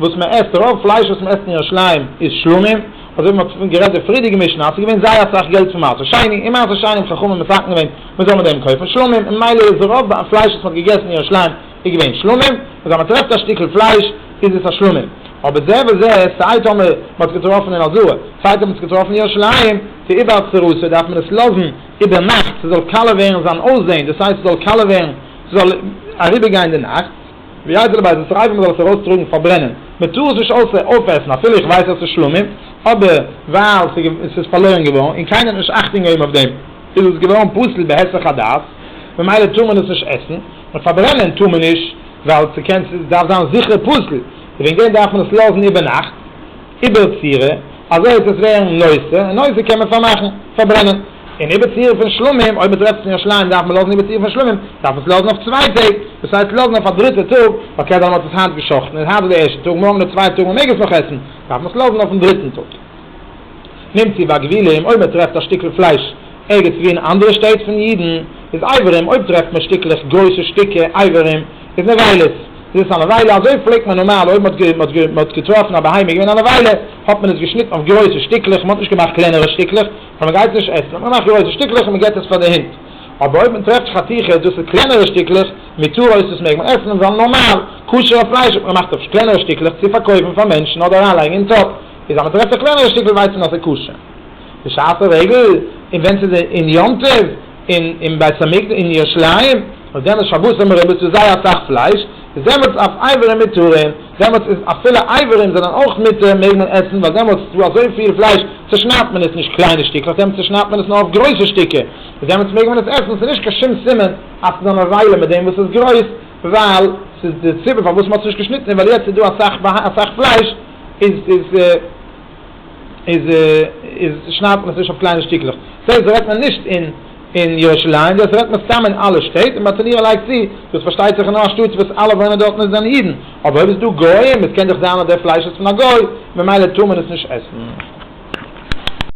וואס מען עסט, רוב פלייש וואס מען עסט אין ירושלים איז שלמים, אזוי ווי מען האט גערעדט די פריערדיגע משנה אז ס'איז געווען זייער אסאך געלט פון מעשר שני, אין מעשר שני האבן חכמים מסכם געווען מען זאל מיט דעם קויפן שלמים, און ממילא איז רוב פלייש וואס מען האט געגעסן אין ירושלים איז געווען שלמים, און אז מען טרעפט א שטיקל פלייש איז עס א שלמים, אבער זה וזה, סיי טאמער מען האט עס געטראפן אין אלזוה, סיי טאמער מען האט עס געטראפן אין ירושלים, צו איבער סרוסה דארף מען עס לאזן איבער נאכט ס'זאל קאלער ווערן זיין אויסזען, דאס הייסט ס'זאל קאלער ווערן ס'זאל אריבער גיין די נאכט. ווי הייסט דערביי זאלסט רייבן מ'זאל עס ארויס טראגן פארברענען, מ'טאר עס נישט אויסער אויפעסן אפילו איך ווייס אז ס'איז שלמים, אבער ווייל ס'איז ס'איז פארלוירן געווארן און קיינער האט נישט אכטונג געהויבן אויף דעם איז עס געווארן פסול בהיסח הדעת ממילא טאר מען עס נישט עסן, און פארברענען טאר מען נישט ווייל ס'קען ס'דארף זיין זיכער פסול, וועגן דעם דארף מען עס לאזן איבערנאכט. איבער צורה, אזוי אז עס ווערן נושא, און נושא קען מען פארמאכן, פארברענען. און איבער צורה פון שלמים, אויב מ'טרעפט עס אין ירושלים דארף מען לאזן איבער צורה פון שלמים, דארף מען עס לאזן אויף צוויי טעג, דאס הייסט לאזן אויף א דריטע טאג, אקעי דאן האט עס היינט גע'שחט'ן, איז היינט איז די ערשטע טאג, מארגן איז די צווייטע טאג, מ'מעג עס נאך עסן, דארף מען עס לאזן אויפן דריטן טאג. נמציא בגבילים, אויב מ'טרעפט א שטיקל פלייש ערגעץ וואו אין אנדערע שטעט פון אידן, איז איברים, אויב טרעפט מען שטיקלעך, גרויסע שטיקער, איברים, איז נבילות. איז עס א נבילה? אזוי פלעגט מען נארמאל אויב מען האט מען האט מען האט געטראפן א בהמה איז געווען א נבילה האט מען עס געשניטן אויף גרויסע שטיקלעך מען האט נישט געמאכט קלענערע שטיקלעך ווייל מען גייט עס נישט עסן האט מען געמאכט גרויסע שטיקלעך און מען געבט עס פאר די הינט אבער אויב מען טרעפט חתיכות דאס איז קלענערע שטיקלעך מותר אויס דאס מעג מען עסן ווייל נארמאל כשר'ע פלייש האט מען געמאכט אויף קלענערע שטיקלעך צו פארקויפן פאר מענטשן אדער אריינלייגן אין טאפ איז אז מען טרעפט א קלענערע שטיקל ווייסט מען אז ס'איז כשר בשעת הרגל און ווען ס'איז אין יום טוב אין אין בית המקדש אין ירושלים האט געענדיגט שבת זעמער רעדט מען צו זייער אסאך פלייש איז דעמאלטס אויף אייוועלט מותרים דעמאלטס איז אפילו אייוועלט זענען אויך מותר מעג מען עסן ווייל דעמאלטס איז דא אזויפיל פלייש צושניידט מען עס נישט קליינע שטיקלעך דעמאלטס צושניידט מען עס נאר אויף גרויסע שטיקער איז דעמאלטס מעג מען עס עסן ס'איז נישט קיין שום סימן אז ס'איז אן עוולה מיט דעם וואס איז גרויס ווייל ס'איז די סיבה פארוואס מ'האט עס נישט געשניטן איז ווייל יעצט איז דא אסאך אסאך פלייש איז איז איז איז שניידט מען עס נישט אויף קליינע שטיקלעך. דאס הייסט דאס רעדט מען נישט אין אין ירושלים, דאס רעדט מען סתם אין אלע שטעט, און ביי טונירא לייגט צו, דאס פארשטייט זיך איז נאר א שטאט וואס אלע וואוינען דארטן איז זענען אידן, אבער אויב איז דא גוים, עס קען דאך זיין אז דער פלייש איז פון א גוי, ממילא טאר מען עס נישט עסן.